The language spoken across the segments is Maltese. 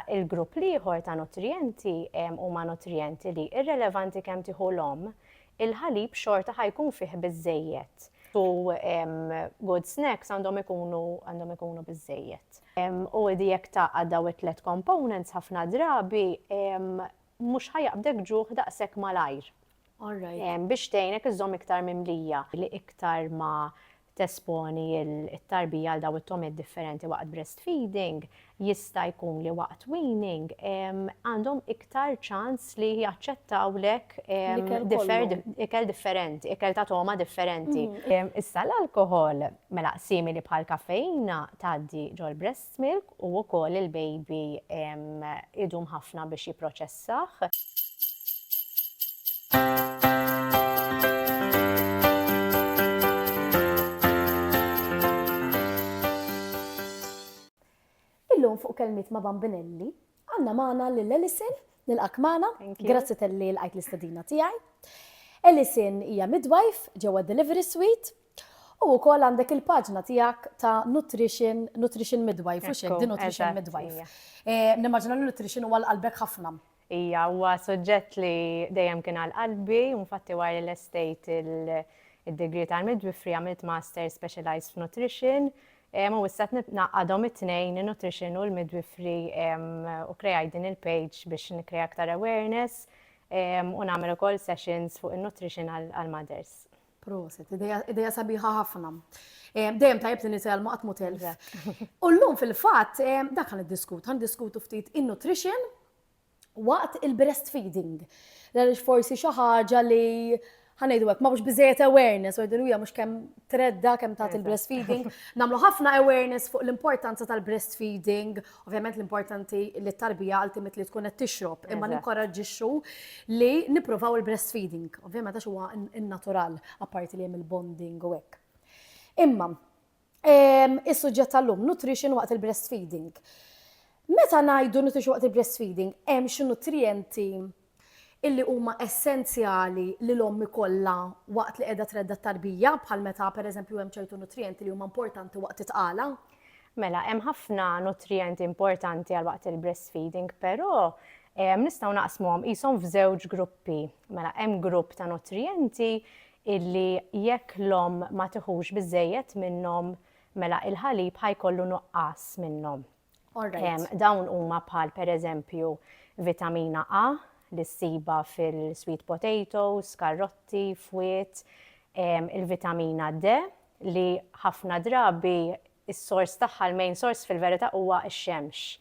Il-grupp l-ieħor ta' nutrijenti huma nutrijenti li, irrelevanti kemm tieħu l-omm, il-ħalib xorta ħa jkun fih biżżejjed. U good snacks għandhom ikunu għandhom ikunu biżżejjed. U jekk tgħaqqad dawn it-tliet components ħafna drabi mhux ħa jaqbdek ġuħ daqshekk malajr. All right. Biex tgħinek iżżomm iktar mimlija. Li iktar ma tesponi t-tarbija għal dawn it-togħmiet differenti waqt breastfeeding, jista' jkun li waqt weaning għandhom iktar ċans li jaċċettawlek ikel differenti, ikel ta' togħma differenti. Issa l-alkoħol, mela simili bħall-kafeina tgħaddi ġol-breast. Smilk u wkoll il-baby idum ħafna biex jipproċessah. Illum fuq Kelmiet ma' Bambinelli Għandna magħna lil Alison, nilqak magħna. Grazzi talli lqajt l-istedina tiegħi. Alison hija midwife ġewwa Delivery Suite u wkoll għandek il-paġna tiegħek ta' nutrition, nutrition midwife, u xek, di nutrition midwife. Eh, nimmaġina li nutrition huwa l-qalbek ħafna. Ija, huwa soġġett li dejjem kien għal qalbi, infatti wara l-estate il-degree tal-midwifery għamilt master specialized f'nutrition, Em u issa qed naqadhom it-tnejn in-nutrition u l-midwifery em u krejajt din il-page biex nikkreja aktar awareness em u nagħmel ukoll sessions fuq in-nutrition għall-mothers. Proset, ideja, ideja sabiħa ħafna. Em, Dejjem tajjeb li nitgħallmu qatt mhu telf. Exact. U llum fil-fatt em, dak ħan iddiskutu, ħan diskutu ftit in-nutrition waqt il-breastfeeding. Għaliex forsi xi ħaġa li ħa ngħidu hekk, ma mhux biżejjed awareness, u hija mhux kemm tredda kemm tagħti l-breastfeeding. Nagħmlu ħafna awareness fuq l-importanza tal-breastfeeding, ovvjament l-importanti li t-tarbija ultimate li tkun qed tixrob, imma ninkoraġġixxu li nippruvaw il-breastfeeding. Ovvjament għax huwa innatural, apparti li hemm il-bonding u hekk. Imma, Is-suġġett tal-lum, nutrition waqt il-breastfeeding. Meta ngħidu nutrition waqt il-breastfeeding, hemm xi nutrijenti illi huma essenzjali li l-omm ikollha waqt li qiegħda tredda t-tarbija, bħal meta pereżempju hemm ċertu nutrijenti li huma importanti waqt it-tqala. Mela, hemm ħafna nutrijenti importanti għal waqt il-breastfeeding, però nistgħu naqsmuhom qishom f'żewġ gruppi. Mela, hemm grupp ta' nutrijenti illi jekk l-omm ma tiħux biżżejjed minnhom mela il-ħalib ħa jkollu nuqqas minnhom. Dawn huma bħal pereżempju vitamina A li ssibha fil-sweet potatoes, karrotti, fwiet, il-vitamina D li ħafna drabi is-sors tagħha, l-main sors fil-verità huwa x-xemx.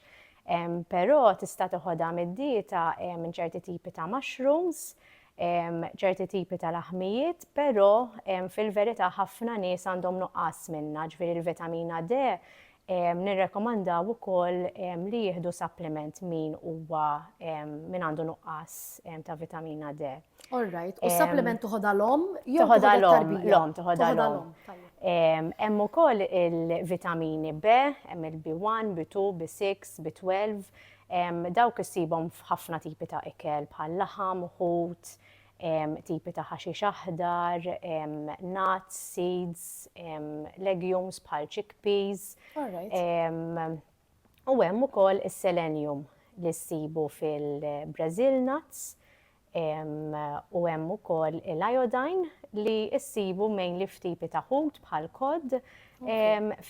Però tista' tiħodha mid-dieta minn ċerti tipi ta' mushrooms, ċerti tipi ta' laħmijiet, però fil-verità ħafna nies għandhom nuqqas minnha, ġifieri l-vitamina D nirrekomandaw ukoll li jieħdu supplement min huwa min għandu nuqqas ta' vitamina D. All right, u supplement tuħodha l-om jew tuħodha l-om, l-om tuħodha l-om. Hemm ukoll il-vitamini B, hemm il-B1, B2, B6, B12, dawk issibhom f'ħafna tipi ta' ikel bħal laħam, ħut, tipi ta' ħaxix aħdar, nuts, seeds, legumes bħal chickpeas. U hemm ukoll is-selenium li ssibu fil-Brazil nuts u hemm ukoll l-iodine li issibu mainly f'tipi ta' ħut bħal kod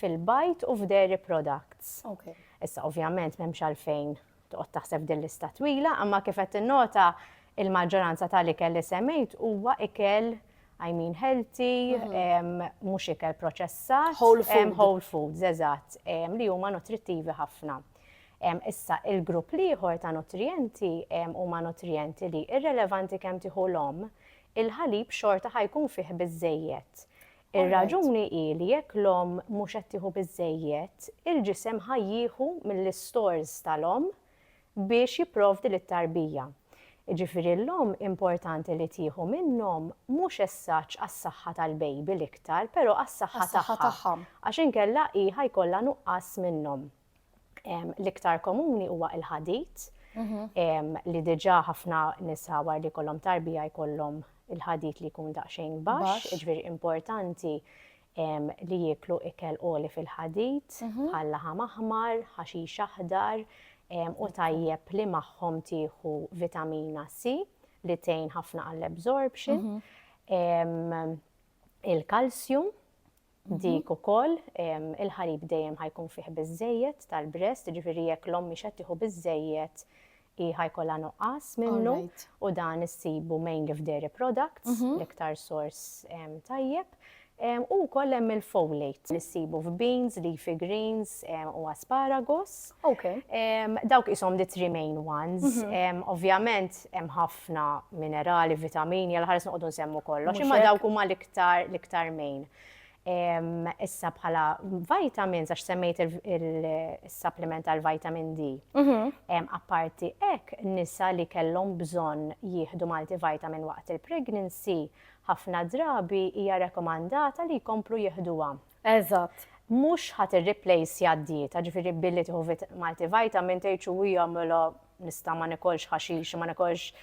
fil-bajt u f'dairy products. Issa ovvjament m'hemmx għalfejn toqgħod taħseb din lista twila, imma kif qed tinnota il-maġġoranza tal-ikel li semmejt huwa ikel I mean healthy, mhux ikel proċessat. Whole foods. Whole foods, eżatt, li huma nutrittivi ħafna. Issa, il-grupp l-ieħor ta' nutrijenti huma nutrijenti li, irrelevanti kemm tieħu l-omm, il-ħalib xorta ħa jkun fih biżżejjed. Ir-raġuni hi li jekk l-omm mhux qed tieħu biżżejjed, il-ġisem ħa jieħu mill-istores tal-omm biex jipprovdi lit-tarbija. Jiġifieri l-omm importanti li tieħu minnhom mhux as such għas-saħħa tal-baby l-iktar, però għas-saħħa tagħha, għax inkella hi ħa jkollha nuqqas minnhom. L-iktar komuni huwa il-ħadid, mhm. li diġa ħafna nisa war li kollom tarbija jkollhom il-ħadid li jkun daqsxejn baxx, iġveri importanti li jiklu ikel oli fil-ħadid, mhm. bħal laħam aħmar, ħaxix aħdar, u tajjeb li magħhom tieħu vitamina C li tgħin ħafna għall-absorption, mhm. il-kalsjum, Dik ukoll, il-ħalib dejjem ħa jkun fih biżżejjed tal-breast, jiġifieri jekk l-omm mhix qed tieħu biżżejjed hi ħa jkollha nuqqas minnu u dan issibu mainly f'dairy products, l-iktar sors tajjeb. U wkoll hemm il-folate li ssibu f'beans, leafy greens u asparagus. Dawk qishom the three main ones. Ovvjament hemm ħafna minerali, vitamini, għal ħares noqogħdu nsemmu kollox, imma dawk huma l-iktar l-iktar main. Issa bħala vitamins, għax semmejt il-supplement għal vitamin D. Mhm. Apparti ek, nisa li kellhom bżonn jieħdu multivitamin waqt il-pregnancy, ħafna drabi hija rekomandata li jkomplu jieħduha. Eżatt. Mhux ħa tirriplejsja d-dieta, ġifieri billi tieħu multivitamin tgħid xi ija mela nista' ma niekolx ħaxix, ma niekolx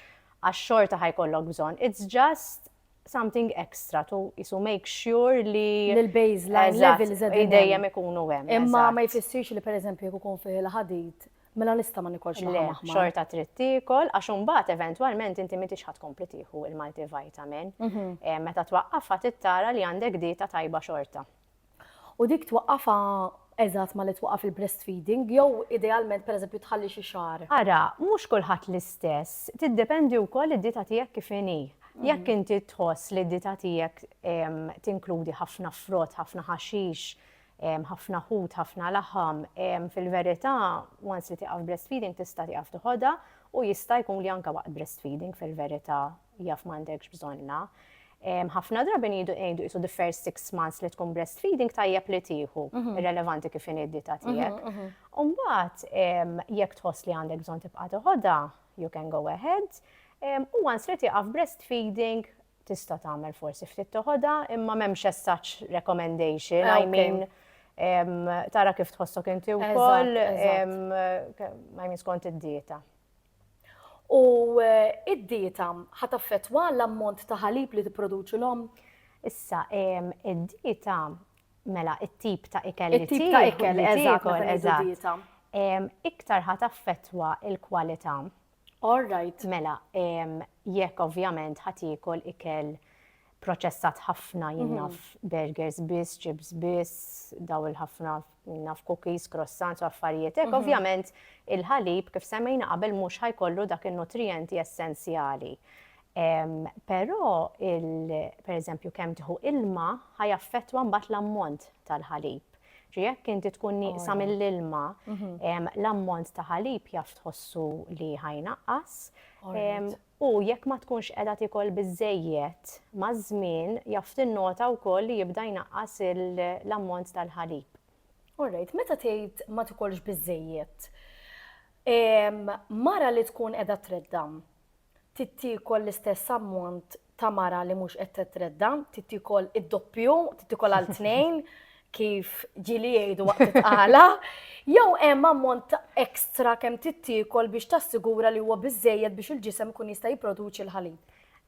għax xorta ħa jkollok bżonn. It's just something extra to qisu make sure li l-baseline levels dejjem ikunu hemm. Imma ma jfissirx li pereżempju jekk ikun fih il-ħadid Mela nista' ma nikolx laħam aħmar. Le, xorta trid tiekol għax imbagħad eventwalment inti m'intix ħadd kompli tieħu il-multivitamin. Mhm. Eh, meta twaqqafha tittara li għandek dieta tajba xorta. U dik twaqqafha eżatt ma li twaqqaf il-breastfeeding jew idealment pereżempju tħalli xi xahar. Ara, mhux kulħadd l-istess, tiddependi wkoll id-dieta tiegħek kif inhi. Mhm. Jekk inti tħoss li d-dieta tiegħek ehm, tinkludi ħafna frott, ħafna ħaxix, ħafna ħut, ħafna laħam, fil-verità once li tieqaf breastfeeding tista' tieqaf tiħodha u jista' jkun li anke waqt breastfeeding fil-verità jaf m'għandekx bżonnha. Ħafna drabi ngħidu ngħidu qisu the first six months li tkun breastfeeding tajjeb li tieħu, mhm. irrelevanti kif inhi d-dita mhm, tiegħek. Mhm. U mbagħad jekk tħoss li għandek bżonn tibqa' tiħodha, you can go ahead. U once li tieqaf breastfeeding Tista' tagħmel forsi ftit toħodha, imma m'hemmx as such recommendation, I Okay. mean em, tara kif tħossok inti wkoll Eżatt, eżatt. em, ke- I mean skont id-dieta. U eh, id-dieta ħa taffettwa l-ammont ta' ħalib li tipproduċi l-omm? Issa em, id-dieta mela it-tip ta' ikel li It-tip ta' tieħu- ikel, li eżatt, tiekol, meta ngħidu eżatt. dieta. Em, iktar ħa taffettwa il-kwalità All right. Mela, jekk ovvjament ħa tiekol ikel proċessat ħafna jinnaf mhm. burgers biss, chips biss, daw il-ħafna jinnaf cookies, croissants u affarijiet. Ek, mhm. ovvjament il-ħalib kif semmejna qabel mhux ħajkollu dak il-nutrienti essenzjali. Però, per eżempju, kemm tħu ilma ħajaffettwa mbagħad l-ammont tal-ħalib. Ġi jekk inti tkun nieqsa mill-ilma, l-ammont ta' ħalib jaf tħossu li ħajnaqqas. U jekk ma tkunx qiegħda tikol biżżejjed, maż-żmien jaf tinnota wkoll li jibda jnaqqas l-ammont tal-ħalib. Orajt, meta tgħid ma tikolx biżżejjed, mara li tkun qiegħda treddam, trid tiekol l-istess ammont ta' mara li mhux qed titredda, trid tiekol id-doppju, trid tiekol għal tnejn kif ġili jgħidu waqt it-tqala, jew hemm ammont ekstra kemm trid tiekol biex tassigura li huwa biżejjed biex il-ġisem ikun jista' jipproduċi l-ħalib.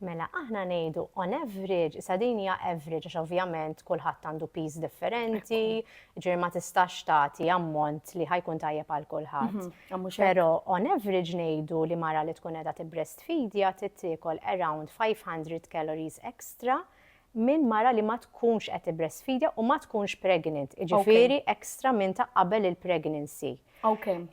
Mela aħna ngħidu on average, sa din hija average għax ovvjament kulħadd għandu piż differenti, Ġifieri ma tistax tagħti ammont li ħa jkun tajjeb għal kulħadd. Mhm, Però on average ngħidu li mara li tkun qiegħda tibbrestfidja trid tiekol around 500 calories extra minn mara li ma tkunx qed tibbrestfidja u ma tkunx pregnant, ġifieri extra minn ta' qabel il-pregnancy. Okay.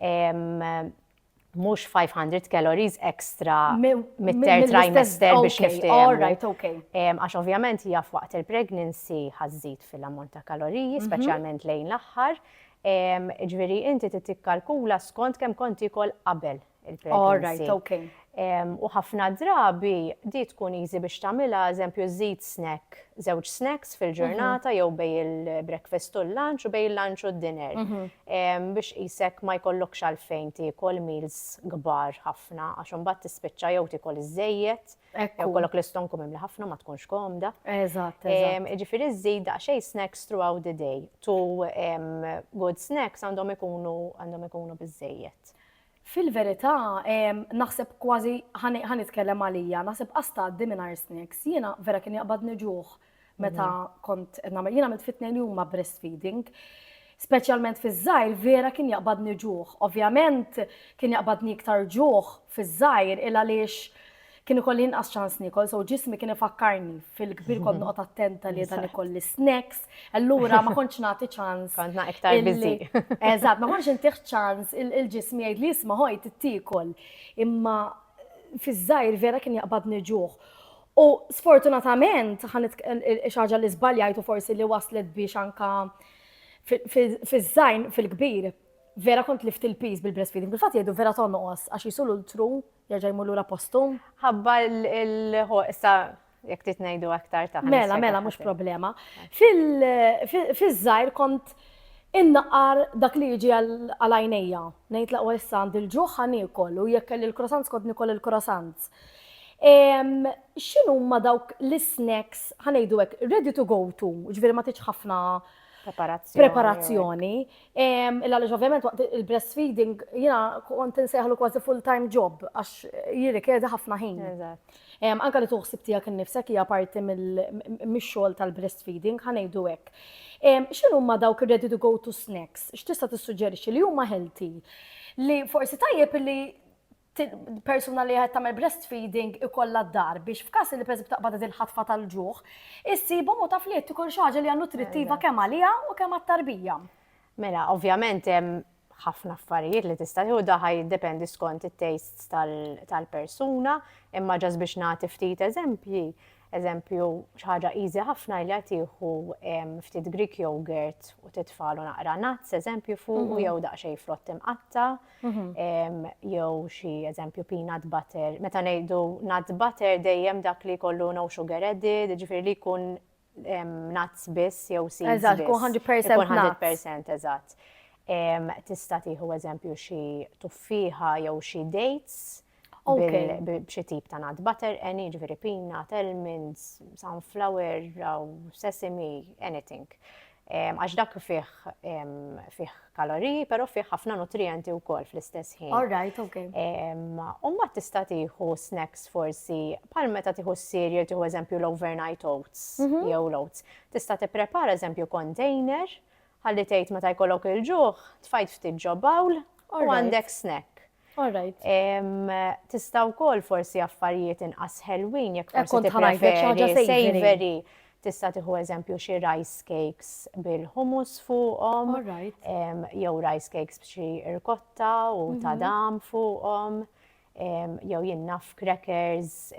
mhux 500 calories extra mit-ter trimester biex niftehmu. Għax ovvjament hija f'waqt il-pregnancy ħażżid fil-ammont ta' kaloriji, mhm. speċjalment lejn l-aħħar. Ġifieri inti tikkalkula skont kemm kont ikol qabel il-pregnancy. U ħafna drabi di tkun easy biex tagħmilha eżempju żid snack żewġ snacks fil-ġurnata jew bej il-breakfast u l-lunch u bej il-lunch u d-dinner. Biex qisek ma jkollokx għalfejn tiekol meals kbar ħafna għax imbagħad tispiċċa jew tiekol iżżejjed, jew kollok l-istonku mimli ħafna ma tkunx komda. Eżatt. Ġifieri żżid daqsxejn snacks throughout the day. Two good snacks għandhom ikunu għandhom ikunu biżżejjed. Fil-verità, naħseb kważi, ħa nitkellem għalija, naħseb qas tgħaddi mingħajr snacks. Jiena vera kien jaqbadni ġuħ meta kont qed nagħmel. Jien għamilt fit-tnejn huma breastfeeding. Speċjalment fiż-żgħir vera kien jaqbadni ġuħ. Ovvjament kien jaqbadni iktar ġuħ fiż-żgħir il għaliex Kien ikolli inqas ċans nikol, so ġismi kien ifakkarni fil-kbir kont noqgħod attenta li dan ikolli snacks, allura ma kontx nagħti ċans. Kontna iktar biżi. Eżatt, ma kontx intih ċans il-ġismi jgħid li jisma' ħoj tittikol. Imma fiż-żgħir vera kien jaqbadni ġuħ. U sfortunatament, xaġa li żbaljajtu forsi li waslet biex anka fiż-żgħin fil-kbir, vera kont lift il-piż bil-breastfeeding. Bil-fatt jgħidu vera tonqos għax jisulu l-tru jerġa' jmur lura postum. Ħabba l-ħo, issa jekk trid ngħidu aktar ta' Mela, mela, mhux problema. Fil-żgħir kont innaqar dak li jiġi għal għajnejja. Ngħid laqwa issa għand il-ġuħ ħan u jekk kelli l-croissants kont nikol il-croissants. X'inhuma dawk l-snacks ħanejdu hekk ready to go to, ġifieri ma tridx ħafna preparazzjoni. Għaliex ovvjament waqt il-breastfeeding jina kont inseħlu kważi full-time job għax jirrikjedi ħafna ħin. Anka li tuħsib tiegħek innifsek hija parti mix-xogħol tal-breastfeeding ħanejdu hekk. X'inhu ma dawk ready to go to snacks? X'tista' tissuġġerixxi li huma healthy? Li forsi tajjeb li persuna li qed tagħmel breastfeeding ikollha d-dar biex f'każ li pereżempju taqbad il-ħatfa tal-ġuħ, issibhom u taf li qed tikol xi ħaġa li hija nutrittiva kemm għaliha u kemm għat-tarbija. Mela, ovvjament hemm ħafna affarijiet li tista' tieħu daħħa jiddependi skont it-tastes tal-persuna, imma ġas biex nagħti ftit eżempji, eżempju xi ħaġa easy ħafna li tieħu ftit Greek yogurt u titfalu naqra nuts, eżempju fuq mhm. jew daqsxejn frott imqatta' jew xi eżempju peanut butter. Meta ngħidu nut butter dejjem dak li jkollu no sugar added, ġifieri li jkun nuts biss jew seeds. Eżatt, kun 100% nuts. 100% eżatt. Tista' tieħu eżempju xi tuffieħa jew xi dates. b'xi tip ta' nut butter, any, ġifieri peanut, almonds, sunflower, sesame, anything. Għax dak fih fih kaloriji, però fih ħafna nutrijenti wkoll fl-istess ħin. All right, ok. U mbagħad tista' tieħu snacks forsi bħal meta tieħu s-cereal tieħu eżempju l-overnight oats jew l-oats. Tista' tipprepara eżempju container ħalli tgħid meta jkollok il-ġuħ tfajt ftit ġo bowl u għandek snack. All right. Tista' wkoll forsi affarijiet inqas ħelwin jekk eh, forsi tippreferi savory. Tista' tieħu eżempju xi rice cakes bil-hummus fuqhom. All right. Jew rice cakes b'xi irkotta u mhm. ta' dam fuqhom. Jew jinnaf crackers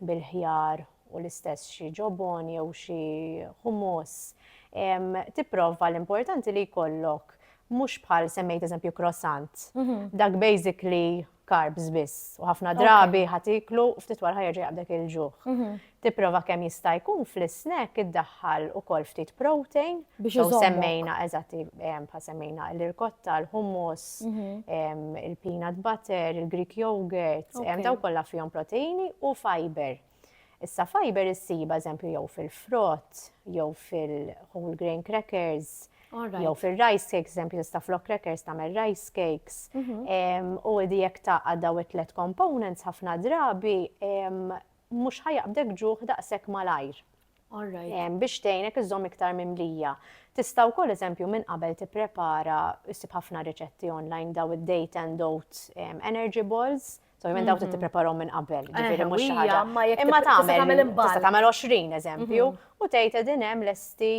bil-ħjar u l-istess xi ġobon jew xi hummus, tipprova l-importanti li jkollok mhux bħal semmejt eżempju croissant. Dak basically carbs biss u ħafna drabi ħatiklu ftit wara ħajerġa' jaqbdek il-ġuħ. Mhm. Tipprova kemm jista' jkun fl-snack iddaħħal ukoll ftit protein biex semmejna eżatti bħal semmejna l-irkotta, l-hummus, mhm. il-peanut butter, il-Greek yogurt, daw kollha fihom proteini u fiber. Issa fiber issib eżempju jew fil-frott, jew fil-whole grain crackers, jew fil-rice cakes, eżempju tista' flok crackers tagħmel rice cakes. Mhm. U di jekk taqqa' daw it-tlet components ħafna drabi mhux ħajaqbdek ġuħ daqshekk malajr. Biex tgħinek iżżomm iktar mimlija. Tista' wkoll eżempju minn qabel tipprepara issib ħafna riċetti online daw id-date and oat energy balls. So, jmen dawk li mhm. tippreparhom minn qabel, eh, ġifieri mhux xi ħaġa. Imma tagħmel tista' tagħmel 20 eżempju mhm. u tgħid qegħdin hemm lesti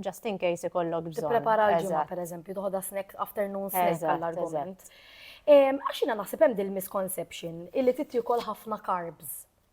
just in case ikollok bżonn. Tipprepara l-ġimgħa pereżempju toħodha snack afternoon snack għall-argument. Għax jiena naħseb hemm dil-misconception illi titjukol ħafna carbs.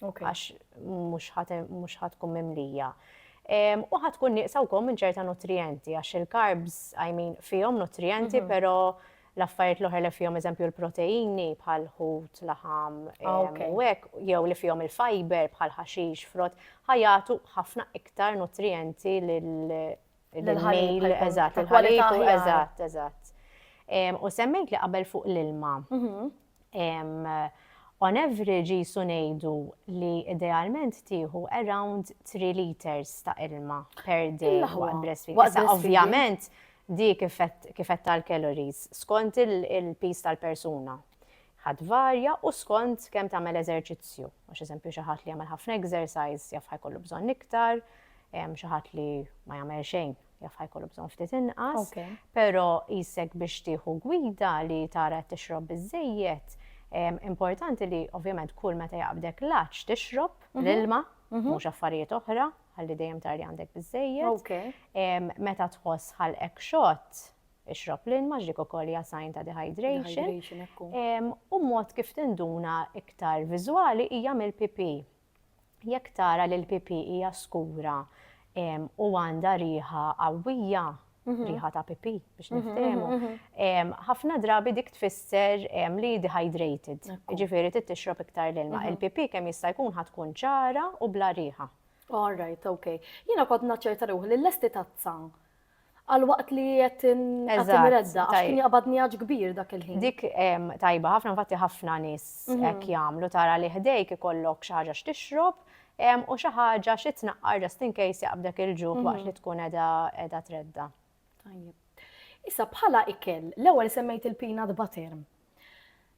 għax mhux ħatkun mimlija. U ħatkun nieqsa wkoll minn ċerta nutrijenti, għax il-karbs, I mean, fihom nutrijenti, però l-affarijiet l-oħra li fihom eżempju l-proteini bħal ħut, laħam, u hekk, jew li fihom il-fiber bħal ħaxix, frott, ħajatu ħafna iktar nutrijenti lill-ħalib, eżatt, il-ħalib, eżatt, eżatt. U semmejt li qabel fuq l-ilma. On average qisu ngħidu li idealment tieħu around 3 liters ta' ilma per day waqt breastfeeding. Issa ovvjament di kif tal-calories skont il-piż tal-persuna ħa tvarja u skont kemm tagħmel eżerċizzju. Għax eżempju xi ħadd li jagħmel ħafna exercise jaf ħa jkollu bżonn iktar, xi ħadd li ma jagħmel xejn jaf ħajkollu bżonn ftit inqas, però jisek biex tieħu gwida li tara tixrob biżejjed. Importanti li ovvjament kull meta jaqbdek laċ tixrob mhm. l-ilma, mhm. mhux affarijiet oħra, ħalli dejjem tar li għandek biżejjed. Meta tħoss ħalqek xott, ixrob l-ilma ġdik ukoll hija sign ta' dehydration. U mod kif tinduna iktar viżwali hija mill-pipi. Jekk tara li l-pipì hija skura u għandha riħa qawwija, riħa ta' pipì biex niftehmu, ħafna drabi dik tfisser li dehydrated, ġifieri trid tixrob iktar l-ilma. Il-pipì kemm jista' jkun ħa tkun ċara u bla riħa. All right, okay. Jiena kont naċċerta ruħi li lesti tazza Għal waqt li qed imredda, għax kien jaqbad njaġ kbir dak il-ħin. Dik tajba, ħafna infatti ħafna nies mhm. hekk jagħmlu tara li ħdejk ikollok xi ħaġa x'tixrob u xi ħaġa xi tnaqqar just in case jaqbdek il-ġuħ mhm. waqt li tkun qiegħda tredda. Issa bħala ikel, l-ewwel semmejt il-peanut butter.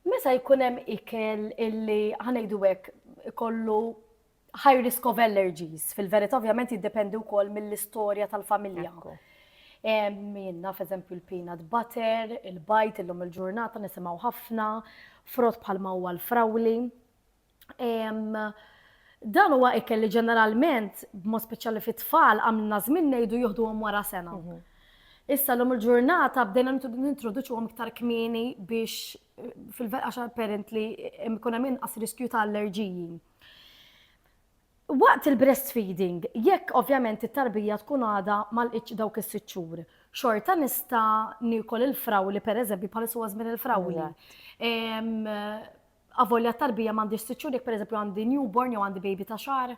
Meta jkun hemm ikel illi ħanejdu hekk ikollu High risk of allergies, fil-verità ovvjament jiddependi wkoll mill-istorja tal-familja. Jien naf eżempju l-peanut butter, il-bajt illum il-ġurnata nisimgħu ħafna, frott bħalma huwa l-frawli. Dan huwa ikel li ġeneralment, b'mod speċjali fit-tfal, għamilna żmien ngħidu jieħduhom wara sena. Mhm. Issa l-lum il-ġurnata bdejna nintroduċuhom iktar kmieni biex fil-verqaxa apparently ikun hemm inqas riskju ta' allerġiji. Waqt il-breastfeeding, jekk ovvjament it-tarbija tkun għadha ma lqitx dawk is-sitt xhur, xorta nista' niekol il-frawli pereżempju bħalissa huwa żmien il-frawli. Avolja t-tarbija m'għandix sitt xhur jekk pereżempju għandi newborn jew għandi baby ta' xahar?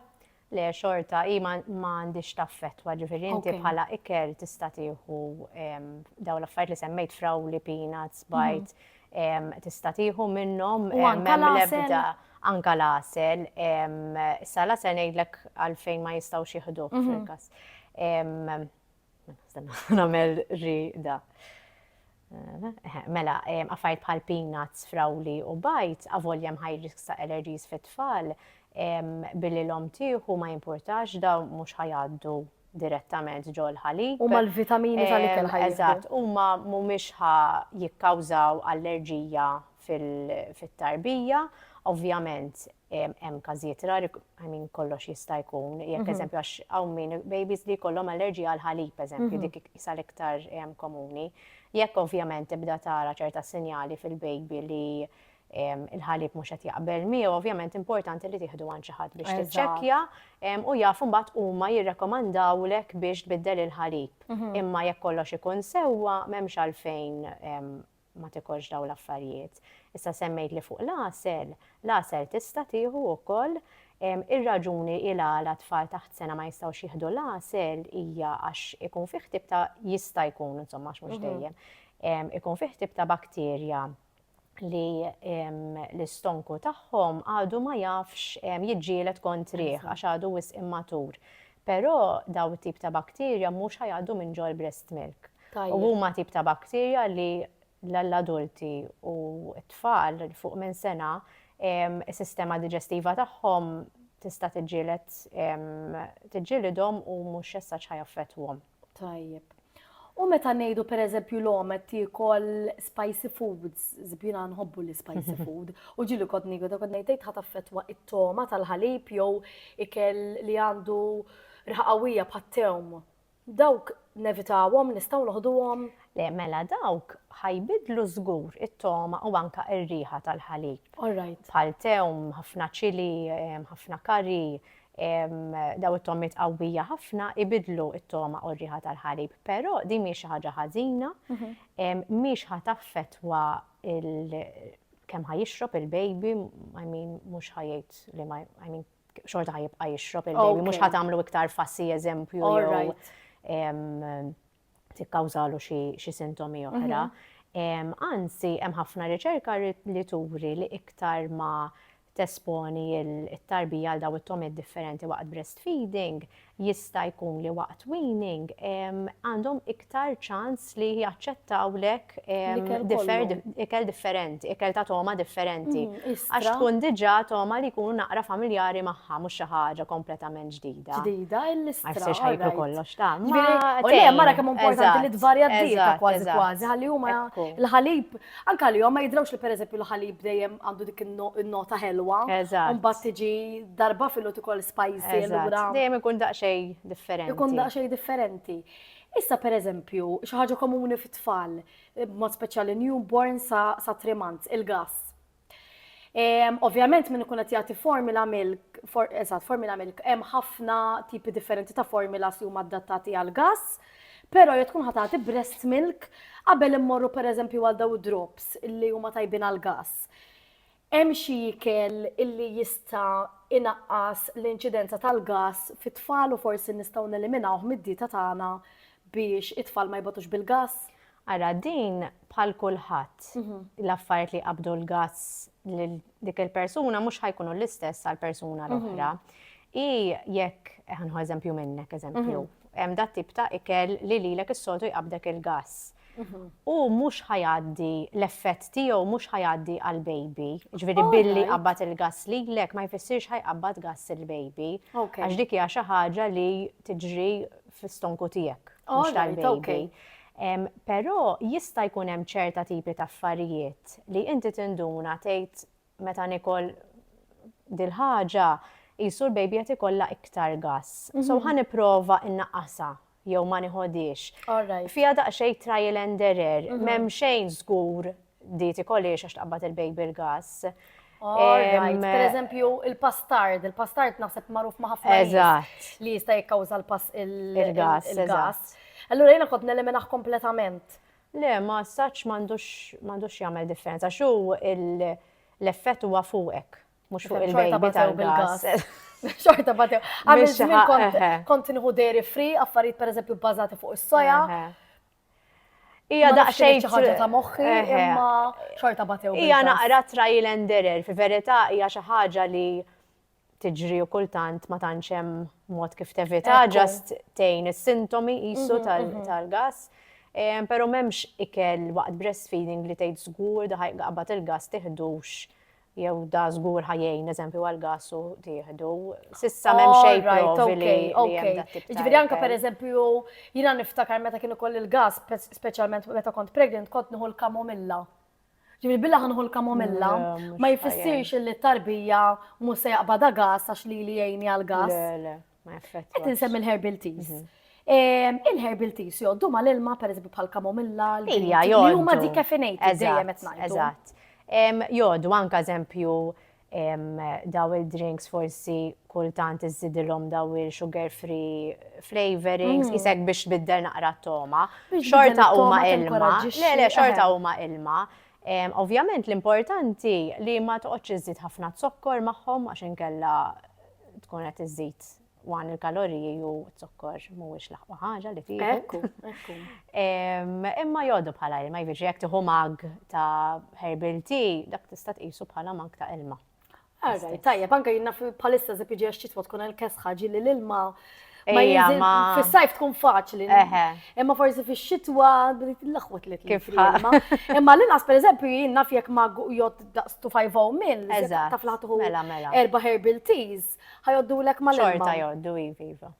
Le, xorta, hi ma għandix taffettwa, ġifieri inti bħala ikel tista' tieħu dawn l-affarijiet li semmejt frawli, peanuts, bajt, tista' tieħu minnhom l-ebda anka l-għasel. Issa l-għasel ngħidlek għalfejn ma jistgħux jieħdu fil-każ. Nagħmel rida. Mela, għafajt bħal peanuts, frawli u bajt, għavoljem high risk ta' allergies fit-tfal, billi l-om tieħu ma jimportax da mhux ħajgħaddu direttament ġol ħalib. Huma l-vitamini tal-ikel ħajjieħdu. Eżatt, huma mhumiex ħa jikkawżaw allerġija fit-tarbija. Ovvjament hemm każijiet rari, I mean kollox jista' jkun, jekk eżempju għax hawn min babies li jkollhom allerġija għall-ħalib eżempju, dik isha l-iktar komuni. Jekk ovvjament tibda tara ċerta sinjali fil-baby li il-ħalib mhux qed jaqbel miegħu, ovvjament importanti li tieħdu għand xi ħadd biex tiċċekkja u jafu mbagħad huma jirrekomandawlek biex tbiddel il-ħalib. Mhm. Imma jekk kollox ikun sewwa m'hemmx għalfejn ma tikolx daw l-affarijiet. Issa semmejt li fuq l-asel, l-asel tista' tieħu wkoll ir-raġuni il għala tfal taħt sena ma jistgħux jieħdu l-asel hija għax ikun fih tip ta' jista' jkun insomma mhux mhm. dejjem ikun fih tip ta' bakterja li l-istonku tagħhom għadu ma jafx jiġġielet kontrih għax għadu wisq immatur. Però daw it-tip ta' bakterja mhux ħajgħaddu minn ġol breast milk. U huma tip ta' bakterja li l-adulti u t-tfal fuq minn sena is-sistema diġestiva tagħhom tista' tiġġieled tiġġielidhom u mhux as-such ħajaffettwhom. Tajjeb. U meta ngħidu pereżempju l-omet tiekol spicy foods, żbina nħobbu li spicy food, u ġili kont nigu ta' kont ngħid ħadd affettwa it-toma tal-ħalib jew ikel li għandu riħa qawwija bħat-tewm. Dawk nevitawhom, nistgħu noħduhom? Le, mela dawk ħajbidlu żgur it-toma u anka r-riħa tal-ħalib. All right. Bħal tewm, ħafna ċili, ħafna kari, eh, daw it-tommiet qawwija ħafna ibidlu it-toma u r-riħa tal-ħalib, però din mhix xi ħaġa ħażina, mhix ħa taffetwa kemm ħa jixrob il-baby, I mean mhux ħa jgħid li ma I mean xorta ħa jibqa' jixrob il-baby, mhux ħa tagħmlu iktar fassi eżempju tikkawżalu xi sintomi oħra. Anzi, hemm ħafna riċerka li turi li iktar ma tesponi t-tarbija għal daw it-tomiet differenti waqt breastfeeding, jista' jkun li waqt weaning għandhom iktar ċans li jaċċettawlek ikel differenti, ikel ta' toma differenti. Mm, Għax tkun diġa toma li jkunu naqra familjari magħha mhux xi ħaġa kompletament ġdida. Ġdida l-istra. Għax sirx ħajklu kollox ta' U le mara kemm importanti li tvarja d-dieta kważi kważi ħalli huma l-ħalib anke li ma jidrawx li pereżempju l-ħalib dejjem għandu dik in-nota ħelwa. Mbagħad tiġi darba fil-lut ukoll spicy l-ura. Dejjem ikun daqsxejn differenti. Ikun daqsxejn differenti. Issa pereżempju, xi ħaġa komuni fit-tfal, b'mod speċjali newborn sa, sa three months, il-gass. Ehm, ovvjament minn ikun qed jagħti formula milk, for, eżatt, formula milk, hemm ħafna tipi differenti ta' formulas li huma adattati għal gas, però jekk tkun ħatati breast milk qabel immorru pereżempju għal daw drops li huma tajbin għal gas. Hemm xi ikel li jista' inaqqas l-inċidenza tal-gass fit-tfal u forsi nistgħu neliminawh mid-dieta tagħna biex it-tfal ma jbogħtux bil-gass? Ara, din bħal kulħadd, l-affarijiet li jqabbdu l-gass lil dik il-persuna mhux ħa jkunu l-istess għall-persuna l-oħra. Hi jekk, ħa nieħu eżempju minnek, eżempju, hemm dat-tip ta' ikel li lilek is-soltu jqabbdek il-gass. hu mhux ħa jgħaddi l-effett tiegħu mhux ħa jgħaddi għall-baby. Ġifieri billi qabad il-gass lilek ma jfissirx ħa jqabbad gass il-baby. Għax dik hija xi ħaġa li tiġri fl-istonku tiegħek. Mhux tal-baby. Però jista' jkun hemm ċerta tipi ta' affarijiet li inti tinduna tgħid meta nikol dil-ħaġa qisu l-baby qed ikollha iktar gass. So ħa nipprova nnaqqasha jew ma niħodiex. Fija daqsxejn trial and error, mhm. m'hemm xejn żgur di tikoliex għax taqbad il-baby l-gas. Per eżempju, il-pastard, il-pastard naħseb magħruf ma' ħafna Eżatt. li jista' jikkawża l-gas. Il-gas. Allura jiena kont nelemenaħ kompletament. Le, ma saċ m'għandux jagħmel differenza, xu l-effett huwa fuqek. Mux fuq il-bejbi tal-gas. Xorta batew. Għamil xaħ kont nħu dairy free, affarijiet per eżempju bazati fuq is-soja. Ija daqxej ħaġa ta' moħħi, imma xorta batew. Ija naqra trail and error, fi verita ija xi ħaġa li tiġri u kultant ma tantx hemm mod kif tevita, ġast tejn is-sintomi qisu mhm, tal-gas. Mhm. tal gas Pero memx ikel waqt breastfeeding li tgħid żgur daħaj qabad il-gas tiħdux Jew da żgur ħa jgħin, l-eżempju għall-gass u tieħdu. S'issa m'hemm oh, xejn provi li hemm dak tip Jiġifieri anke pereżempju jiena niftakar meta kien ukoll il-gass, speċjalment meta kont pregnant, kont nieħu l-kamomilla. Ġifieri billa ħanħu l-kamomilla, ma jfissirx li t-tarbija mhux se jaqbada gass għax li li jgħini għall-gass. Ma jaffettwax. Qed insemmi l-herbal teas. Mhm. Ehm, il-herbal teas joddu ma l-ilma, per eżempju, bħal kamomilla, l-ija, joddu. Juma dikeffinejt, dejjem qed ngħidu. Eżatt. Ehm, joddu, anka eżempju, ehm, daw il-drinks forsi kultant iżidilhom daw il-sugar free flavorings, mm. isek biex biddel naqra t-toma. Xorta huma ilma. Le, le, xorta huma ilma. Ovvjament l-importanti li ma toqgħodx iżid ħafna zokkor magħhom għax inkella tkun qed iżżid wan il-kaloriji u t-zokkor mhuwiex l-aqwa ħaġa li tiegħek. Ekku, ekku. Imma jgħodu bħala ilma, jiġri jekk tieħu mag ta' herbal tea, dak tista' tqisu bħala mag ta' ilma. Għarra, tajjeb, anke jinna bħalissa zepġi għax ċitwa tkun għal kesħa ġilli l-ilma Ma jinżil fis-sajf tkun faċli. Imma forsi fix-xitwa l-aħwet li kif ħalma. Imma l-inqas pereżempju jien naf jekk ma jgħod daqs 250 mil, taf laħtuħu mela, mela. erba' herbal teas, ħajoddu lek ma' Xorta jgħoddu iva, iva.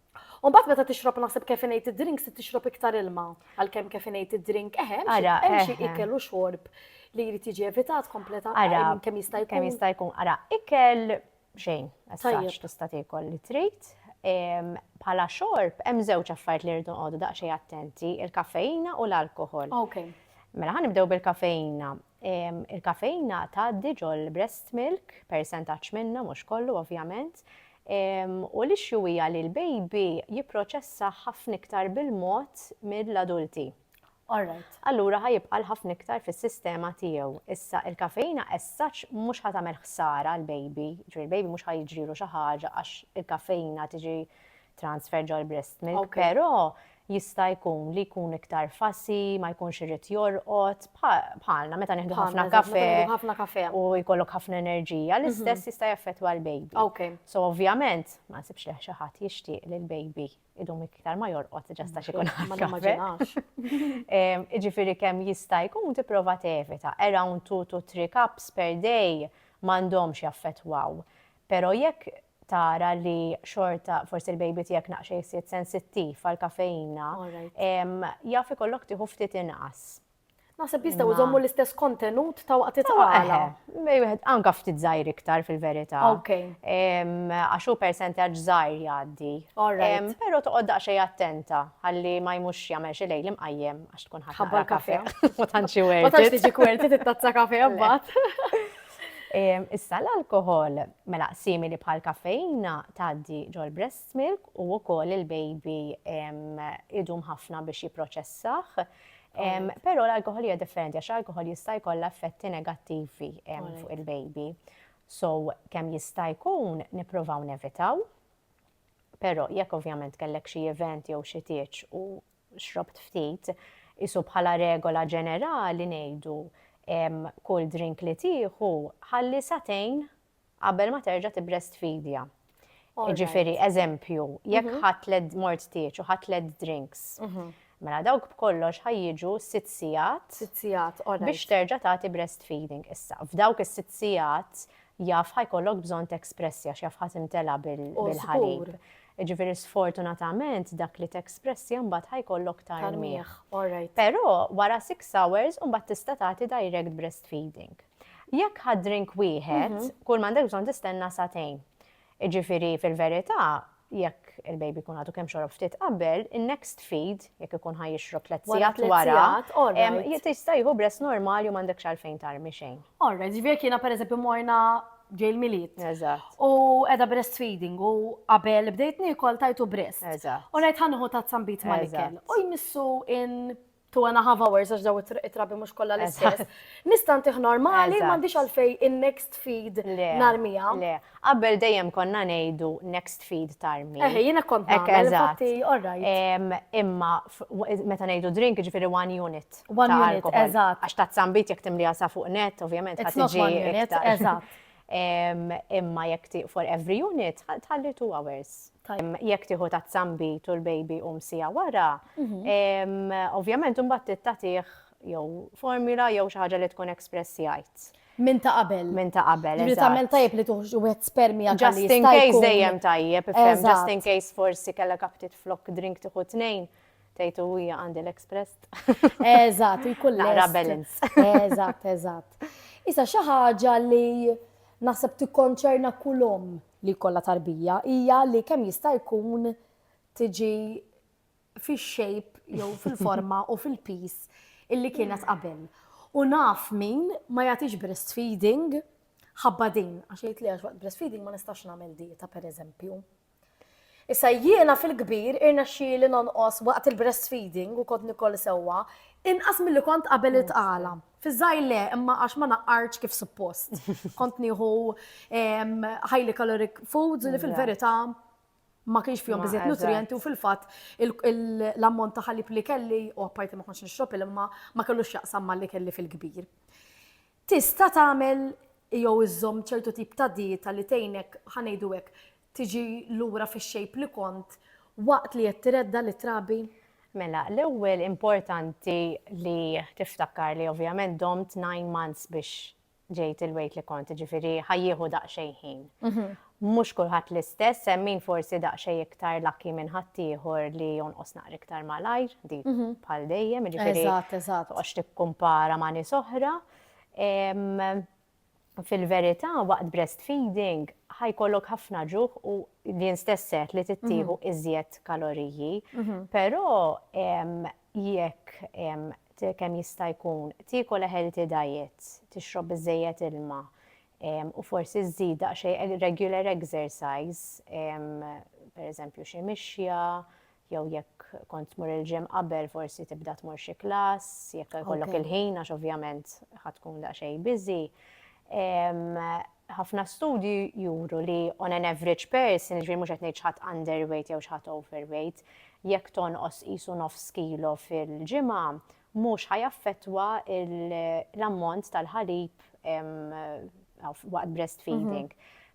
U bat meta tixrob naħseb kefinated drink se tixrob iktar ilma għalkemm kefinated drink eħe, hemm xi ikel u xorb li jrid jiġi evitat kompletament kemm jista' jkun. Kemm jista' jkun ara ikel xejn, għax tista' tiekol li trid. Bħala xorb, hemm żewġ affarijiet li rridu nqogħdu daqsxejn attenti, il-kafeina u l-alkohol. Okay. Mela ħan nibdew bil-kafeina. Il-kafeina tgħaddi ġol breast milk, percentaċ minna, mhux kollu ovvjament. U li xjuwija li l-baby jipproċessa ħafna iktar bil-mod mill-adulti. allura ħa jibqa' għal ħafna iktar fis-sistema tiegħu. Issa, il-kafeina as such mhux ħa tagħmel ħsara għall-baby, jiġifieri l-baby mhux ħa jiġrielu xi ħaġa għax il-kafeina tiġi transferred ġol-breast milk, però jista' jkun li jkun iktar fussy, ma jkunx irid jorqod, bħalna meta nieħdu ħafna kafè u jkollok ħafna enerġija, l-istess jista' jaffettwa l-baby. So ovvjament, ma nsibx li xi ħadd jixtieq li l-baby idum iktar ma jorqod ġesta xikun ħafna. Iġifiri kem jista' jkun tipprova tevita. Around 2 to 3 cups per day m'għandhomx jaffettwaw. Pero jekk tara li xorta forsi l-baby tiegħek naqxej siet sensittiv għal kafeina, jaf ikollok tieħu ftit inqas. Naħseb jistgħu jżommu l-istess kontenut ta' waqt it-tqala. Anka ftit żgħir iktar fil-verità. Għax hu percentaġġ żgħir jgħaddi. Però toqgħod daqsxejn attenta ħalli ma jmux jagħmel xi lejl imqajjem għax tkun ħabbar kafe. Ma tantx xi wert. Ma tantx tiġi kwerti titazza kafe mbagħad. Issa l-alkoħol, mela simili bħal kafejna tgħaddi ġol breast milk u wkoll il-baby idum ħafna biex jipproċessah. Però l-alkohol hija differenti għax l-alkohol jista' jkollha effetti negattivi fuq il-baby. So kemm jista' jkun nippruvaw nevitaw, però jekk ovvjament kellek xi event jew xi tieġ u xrobt ftit, isu bħala regola ġenerali ngħidu kull drink li tieħu ħalli satejn qabel ma terġa' tibbreastfeedja. Jiġifieri, eżempju, jekk mhm. ħadd led mort tieġ u ħadd led drinks, mhm. mela dawk b'kollox ħajjiġu sitt sigħat. Sitt sigħat, Biex terġa' tagħti breastfeeding issa. F'dawk is-sitt sigħat jaf ħajkollok bżonn tekspressja x'jaf ħadd imtela bil-ħalib. Ġifiri sfortunatament dak li t-express jambat ħajkollok tarmiħ. Pero wara 6 hours umbat tista tagħti direct breastfeeding. Jekk ħadd drink wieħed, mhm. kull m'għandek bżonn tistenna satejn. Iġifieri fil-verità, jekk il-baby kun għadu kemm xorob ftit qabel, il-next feed, jekk ikun ħaj jixrob tliet sigħat wara, jista' jieħu bress normali u m'għandekx għalfejn tarmi xejn. Orra, ġifieri kiena pereżempju morna ġej l-miliet. Eżatt. U edha breastfeeding u qabel bdejt nikol tajtu breast. Eżatt. U ngħid ħanħu ta' zambit ma' ikel. U jmissu in two and a half hours għax daw it-trabi mhux kollha l-istess. Nista' ntih normali m'għandix għalfej in-next feed narmija. Le, qabel dejjem konna ngħidu next feed tarmi. Eh, jiena kont nagħmel fatti Imma meta ngħidu drink ġifieri one unit. One unit, eżatt. Għax ta' zambit jekk timliha sa fuq net, ovvjament ħadd tiġi. Eżatt. Imma jekk ti for every unit, tħalli two hours. Jekk tieħu ta' zambi tu l-baby u msija wara, mhm. ovvjament imbagħad tittatih jew formula jew xi ħaġa li tkun express jgħid. Minn ta' qabel. Minn ta' qabel. Li tagħmel tajjeb li tuħx wieħed spermi għal Just in case dejjem tajjeb, just in case forsi kellek kaptit flok drink tieħu tnejn. Tgħid u hija għandi l-express. Eżatt, jkun Naqra balance. Eżatt, eżatt. Issa xi ħaġa li naħseb tikkonċerna kull omm li jkollha tarbija hija li kemm jista' jkun tiġi fix-shape jew fil-forma u fil-pis illi kienet qabel. U naf min ma jagħtix breastfeeding ħabba din, għax jgħid li għax waqt breastfeeding ma nistax nagħmel dieta pereżempju. Issa jiena fil-kbir irnexxieli nonqos waqt il-breastfeeding u kont nikol sewwa inqas milli kont qabel it-tqala. Fiż-żgħir le imma għax ma naqqartx kif suppost. Kont nieħu highly caloric foods li fil-verità ma kienx fihom biżżejjed nutrijenti u fil-fatt l-ammont ta' ħalib li kelli, u apparti ma kontx nixrob il-ilma, ma kellux x'jaqsam malli kelli fil-kbir. Tista' tagħmel jew iżżomm ċertu tip ta' dieta li tgħinek, ħa ngħidu hekk, tiġi lura fix-shape li kont waqt li qed tiredda lit-trabi? Mela, l-ewwel importanti li tiftakar li ovvjament domt nine months biex ġejt il-weight li kont, jiġifieri ħa jieħu daqsxejn ħin. Mhux kulħadd l-istess, hemm min forsi daqsxejn iktar lucky minn ħaddieħor li jonqos naqra iktar malajr, dik bħal dejjem, jiġifieri ma toqgħodx tikkumpara ma' nies oħra. Fil-verità waqt breastfeeding ħa jkollok ħafna ġuħ u din stess seħħ li tittieħu iżjed kaloriji, però jekk kemm jista' jkun tiekol a healthy diet, tixrob biżżejjed ilma, u forsi żżid daqsxejn regular exercise, pereżempju xi mixja, jew jekk kont tmur il-gym qabel forsi tibda tmur xi klass, jekk ikollok il-ħin għax ovvjament ħa tkun daqsxejn busy. Ħafna studji juru li on an average person, jiġifieri mhux qed ngħid xi ħadd underweight jew xi ħadd overweight, jekk tonqos qisu nofs kilo fil-ġimgħa, mhux ħa jaffettwa l-ammont tal-ħalib waqt breastfeeding.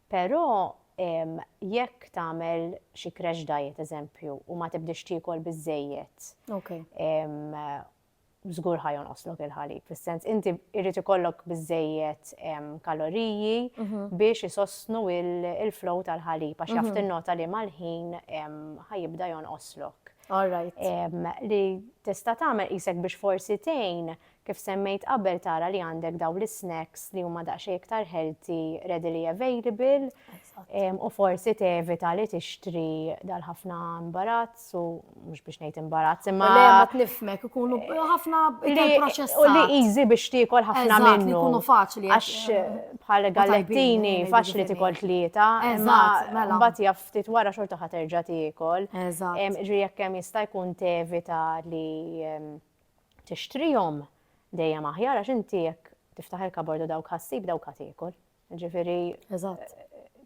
Però jekk tagħmel xi crash diet eżempju u ma tibdiex tiekol biżżejjed, żgur ħa jonqoslok il-ħalib. Fis-sens inti jrid ikollok biżżejjed kaloriji biex isostnu l-flow tal-ħalib għax jaf tinnota li mal-ħin ħa jibda jonqoslok. All right. Li tista' tagħmel qisek biex forsi tgħin kif semmejt qabel tara li għandek daw l-snacks li huma daqsxejn iktar healthy, readily available, u forsi tevita li tixtri dal-ħafna imbarazz u mhux biex ngħid imbarazz imma. Le ma tnifmek ikunu ħafna proċess. U li easy biex tiekol ħafna minnu. Ikunu faċli. Għax bħal gallettini faċli tikol tlieta. Imma mela. mbagħad jaf ftit wara xorta ħa terġa' tiekol. Eżatt. Ġri jekk hemm jista' jkun tevita li tixtrihom dejjem aħjar għax inti jekk tiftaħ il-kabord u dawk ħassib dawk ħa tiekol. Ġifieri. Eżatt.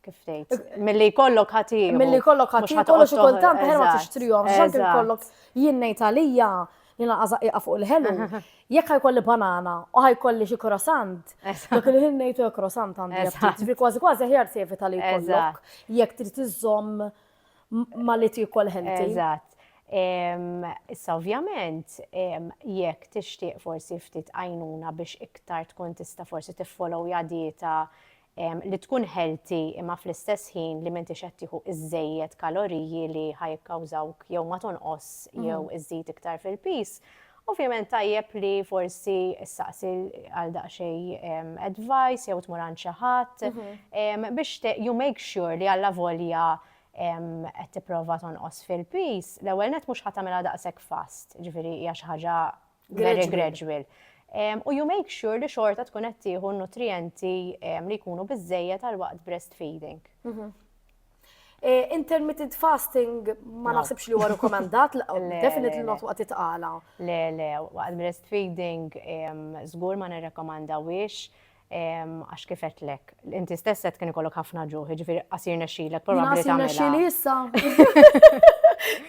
Kif tgħid? Milli jkollok ħa tiekol. Milli jkollok ħa tiekol xi kultant ħer ma tixtrihom. X'għandu jkollok jien ngħid għalija Jiena għażaq ieqa' fuq il-ħelu. Jekk ħajkolli banana u ħajkolli xi croissant, dak il-ħin ngħid u croissant għandi aptit. Ġifieri kważi kważi aħjar tevita li jkollok jekk trid iżżomm ma li tiekol ħelti. Eżatt. Issa ovvjament jekk tixtieq forsi ftit għajnuna biex iktar tkun tista' forsi tiffolowja dieta li tkun healthy imma fl-istess ħin li m'intix qed tieħu iżżejjed kaloriji li ħa jikkawżawk jew ma tonqos jew iżżid iktar fil-piż, ovvjament tajjeb li forsi ssaqsi għal daqsxejn advice jew tmur għand xi ħadd biex you make sure li allavolja qed tipprova tonqos fil-piż, l-ewwel nett mhux ħa tagħmilha daqshekk fast, jiġifieri hija xi ħaġa very gradual. U you make sure li xorta tkun qed tieħu nutrijenti li jkunu biżejjed għal waqt breastfeeding. Mhm. Eh, intermittent fasting ma naħsibx li huwa rekomendat, definitely not waqt itqala. Le, le, waqt breastfeeding żgur ma nirrekomandawiex Għax kif għedtlek, inti stess qed kien ikollok ħafna ġuħ, ġifieri qasir nexxilek probabbli tagħmilha. Qasir nexxili issa.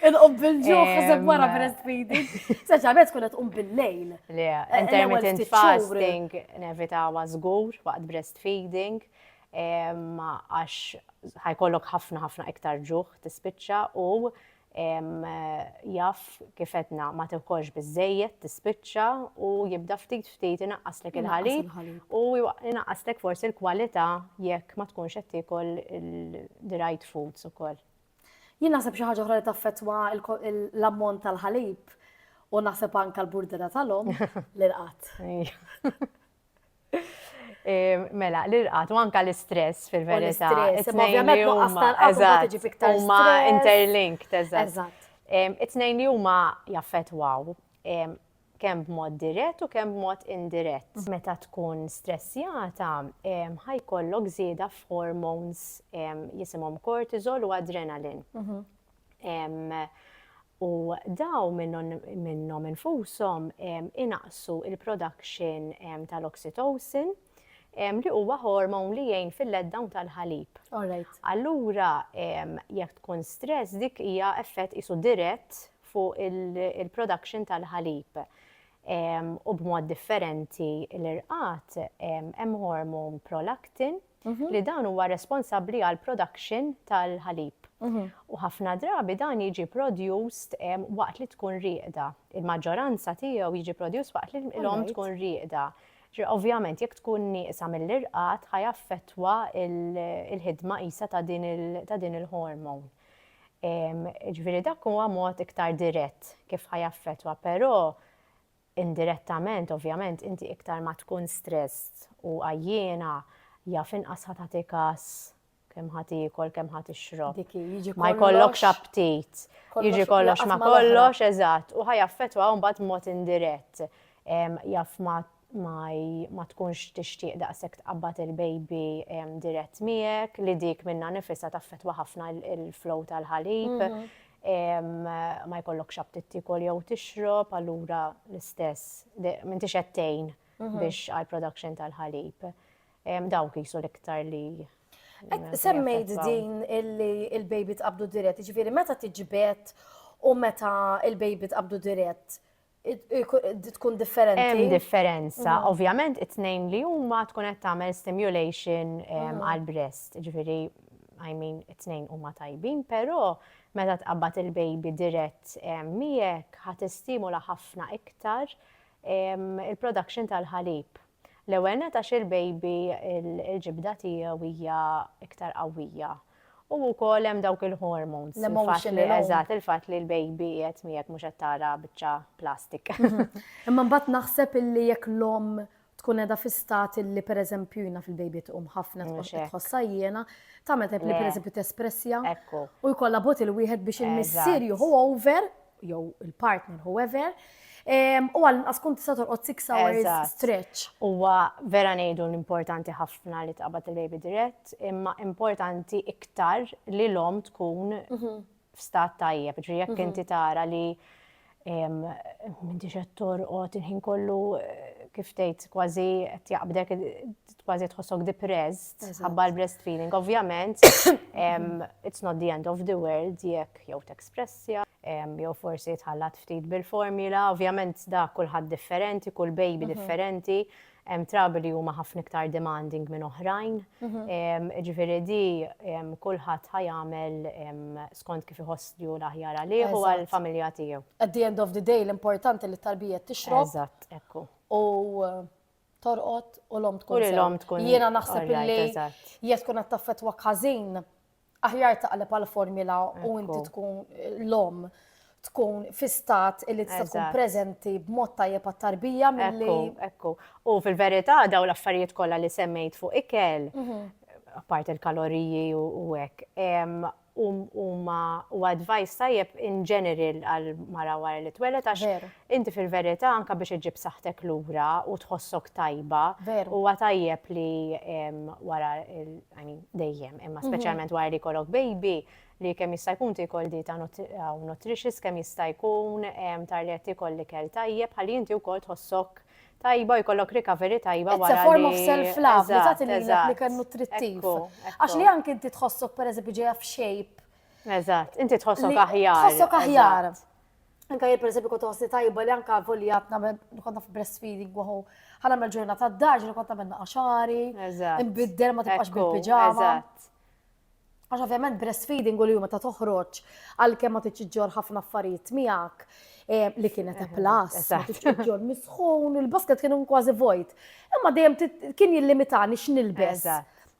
Inqob bil-ġuħ ħaseb wara breastfeeding. Speċjalment tkun qed tqum bil-lejl. Le, eh, intermittent fasting nevitawa żgur waqt breastfeeding għax ħajkollok ħafna ħafna iktar ġuħ tispiċċa u jaf kif għedna ma tekolx biżejjed tispiċċa u jibda ftit ftit inaqqaslek il-ħalib u inaqqaslek forsi l-kwalità jekk ma tkunx qed tiekol the right foods ukoll. Jien naħseb xi ħaġa oħra li taffettwa l-ammont tal-ħalib u naħseb anke l-burdera tal-omm l-irqad. Mela, l-irqat, u anka l-istress fil-verità. Ovvjament, nuqqas tal-qat, ġi fiktar. Huma interlinked, eżatt. It-tnejn li huma jaffetwaw kemm b'mod dirett u kemm b'mod indirett. Meta tkun stressjata, ħajkollok żieda f'hormones jisimhom cortisol u adrenalin. u dawn minnhom infushom inaqqsu l-production tal-oxytocin li huwa hormone li jgħin fil-letdown tal-ħalib. Allura jekk tkun stress dik hija effett qisu dirett fuq il-production tal-ħalib. U b'mod differenti l-irqad hemm hormone prolactin Mhm. li dan huwa responsabbli għal production tal-ħalib. Mhm. U ħafna drabi dan jiġi produced waqt li tkun rieqda. Il-maġġoranza tiegħu jiġi produced waqt li l-om tkun rieqda. Ovvjament, jekk tkun nieqsa mill-irqat, ħajaffettwa il-ħidma isa ta' din il-hormon. Ġviri dak huwa mod iktar dirett kif ħajaffettwa, però Indirettament, ovvjament, inti iktar ma tkun stressed u għajjiena, jaf inqas ħa tagħti kas kemm ħa tiekol, kemm ħa tixrob. Ma jkollokx aptit. Jiġi kollox ma kollox, eżatt, u ħaj affettwa mbagħad mod indirett. Jaf ma ma tkunx tixtieq daqshekk tqabbad il-baby dirett miegħek, li dik minna nifisha taffettwa ħafna il-flow tal-ħalib. Mhm. ma jkollokx aptit tikol jew tixrob, allura l-istess, m'intix qed tgħin mhm. biex għal production tal-ħalib. Dawk jisu l-iktar li Semmejt din illi il-baby tqabdu dirett, ġifiri meta tiġbed u meta il-baby tqabdu dirett, tkun differenti. Hemm differenza, mhm. ovvjament it-tnejn li huma tkun qed tagħmel stimulation mhm. għal breast, ġifieri I mean it-tnejn huma tajbin, però meta tqabbad il-baby dirett miegħek ħadd istimula ħafna iktar il-production tal-ħalib. L-ewwel nett għax il-baby il-ġibda tiegħu hija iktar qawwija. U wkoll hemm dawk il-hormones. L-emotion li eżatt il-fatt li l-baby qed miegħek mhux qed tara biċċa plastik. Imma mbagħad naħseb illi jekk l-omm tkun qiegħda fi stat illi pereżempju jiena fil-baby tqum ħafna tħossha jiena, tagħmel tajb li pereżempju tespressja. U jkollha botil wieħed biex il-missier jieħu over jew il-partner whoever, u għal inqas kun tista' torqod 6 hours stretch. Huwa vera ngħidu l-importanti ħafna li tqabad il-baby dirett, imma importanti iktar li l-om tkun mhm. f'stat tajjeb, ġri jekk mhm. inti tara li minti xed torqod il-ħin kollu eh, kif tgħid kważi qed jaqbdek kważi tħossok depressed ħabba l-breastfeeding. Ovvjament, it's not the end of the world jekk jew t-ekspressja, jew forsi tħallat ftit bil-formula, ovvjament da kulħadd differenti, kull baby mhm. differenti, hemm trabi li huma ħafna iktar demanding minn oħrajn. Mhm. Ġifieri di kulħadd ħajamel skont kif iħoss li l-aħjar għalih u għall-familja tiegħu. At the end of the day l-importanti li t-tarbija tixrob. Eżatt, ekku. U torqod u l-om tkun. U l-om tkun. Jiena naħseb li jek tkun qed taffetwa każin, aħjar taqleb għal formula u inti tkun l-om tkun fi stat li tista' tkun preżenti b'mod tajjeb għat-tarbija milli. Ekku, U fil-verità daw l-affarijiet kollha li semmejt fuq ikel, mhm. apart il-kaloriji u hekk, u huma huwa advice tajjeb in general għal mara wara li tweled għax Veru. inti fil-verità anke biex iġġib saħħtek lura u tħossok tajba Veru. huwa tajjeb li em, wara il, I mean, dejjem, imma Mhm. speċjalment wara li jkollok baby li kemm jista' jkun tikol dieta nut- aw nutritious kemm jista' jkun em, tar li qed tikol l-ikel tajjeb ħalli inti wkoll tħossok tajba u jkollok recovery tajba wara. It's a form of self-love li tagħti lilek li kien nutrittiv. Għax li anke inti tħossok pereżempju ġejja f'shape. Eżatt, inti tħossok aħjar. Tħossok aħjar. Anka jien pereżempju kont tħossni tajba li anka volja nagħmel kont naf breastfeeding waħu. Ħala mel ġurnata d-daġ li kont nagħmel naqaxari. Eżatt. Inbiddel ma tibqax bil-piġama. Eżatt. Għax ovvjament breastfeeding u li huma ta' toħroġ għalkemm ma tiġġor ħafna affarijiet miegħek eh, li kienet plas, tiġġor misħun, il-basket kienu kważi vojt. Imma dejjem kien jillimitani x'nilbes.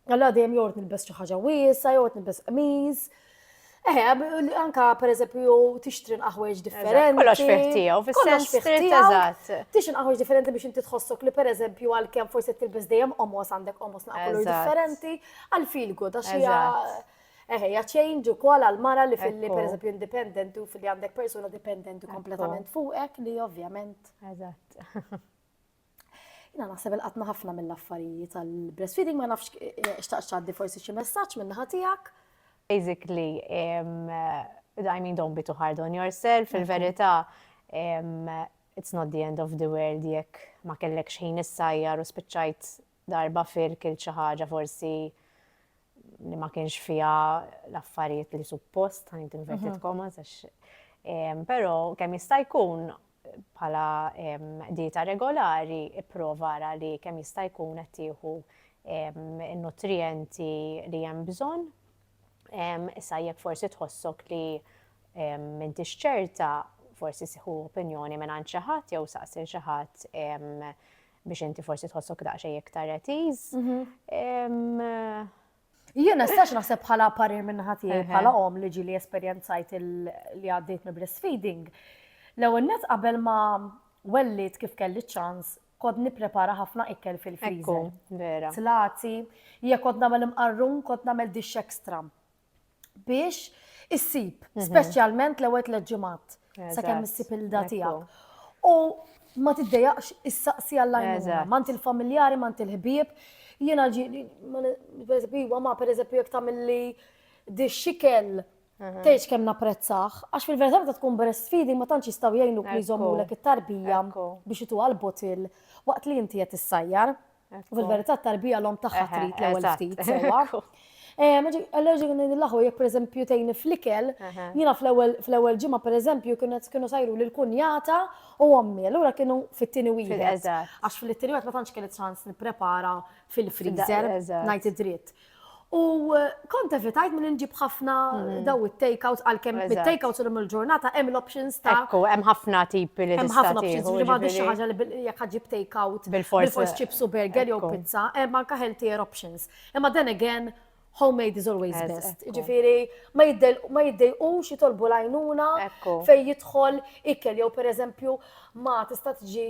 Allora dejjem jort nilbes xi ħaġa wiesa, jort nilbes qmiż. Eh, anka per eżempju tixtri nqaħweġ differenti. Kollox fiħtijaw, fis-sens street eżatt. Tixtri nqaħweġ differenti biex inti tħossok li per eżempju għalkemm forsi tilbes dejjem omos għandek omos naqblu differenti. Għal feel good, għax hija. Eħe, ja change u kol għal-mara li fil-li per eżempju independent u fil-li għandek persuna dependent u kompletament fuqek li ovvjament. Eżatt. Jina naħseb il-qatna ħafna mill-affarijiet tal-breastfeeding ma nafx eh, eh, xtaqx ċaddi forsi xi messaġġ minn ħatijak. Basically, eh, I mean don't be too hard on yourself, fil-verità it's not the end of the world jekk ma kellek xejn issajjar u spiċċajt Darba fir kilt xi ħaġa forsi li ma kienx fiha l-affarijiet li suppost, ħanit inverted commas, għax però kemm jista' jkun bħala dieta regolari ipprova ara li kemm jista' jkun qed tieħu n-nutrijenti li hemm bżonn. Issa jekk forsi tħossok li m'intix ċerta, forsi siħu opinjoni minn għand xi ħadd jew saqsi xi ħadd biex inti forsi tħossok daqsxejn iktar at ease. Jien nistax naħseb bħala parir minn ħatijaj bħala om li ġili esperjenzajt li għaddejt me breastfeeding. L-ewwel net qabel ma wellit kif kelli ċans kod niprepara ħafna ikkel fil-friżer. Vera. Tlati, jekk kod nagħmel imqarrun, kod nagħmel dix extra. biex issib, mhm. speċjalment l-ewwel tliet ġimgħat sakemm issib il-da tiegħek. U ma tiddejaqx is-saqsi għall-għajnuna, mant il-familjari, mant il-ħbieb. Jiena ġi, per eżempju, ma per eżempju jek tamilli di xikel Tgħidx kemm napprezzaħ, għax fil-verità meta tkun breastfeeding ma tantx jistgħu jgħinuk li jżommulek it-tarbija biex itu għal-botil waqt li inti qed issajjar. U fil-verità t-tarbija l-om tagħha trid l-ewwel ftit sewwa. Allora ġi għin l-aħu, jek per eżempju tejni flikel, jina fl-ewel ġimma per eżempju kienet kienu sajru li l-kunjata u għammi, allura kienu fit-tini wieħed. Għax fil-tini wieħed ma tantx kienet ċans niprepara fil-freezer, najt id-dritt. U kont evitajt minn nġib ħafna mm. daw it-takeouts għalkemm mit-takeouts l il-ġurnata hemm l-options ta' Ekku, hemm ħafna tipi li Hemm ħafna options li ma xi ħaġa li jekk ħaġib takeout bil-fors chips u burger jew pizza, hemm anke healthier options. Imma then again homemade is always best. Ġifiri, ma jiddejqux jitolbu lajnuna fej jidħol ikel jew per eżempju ma tista' tġi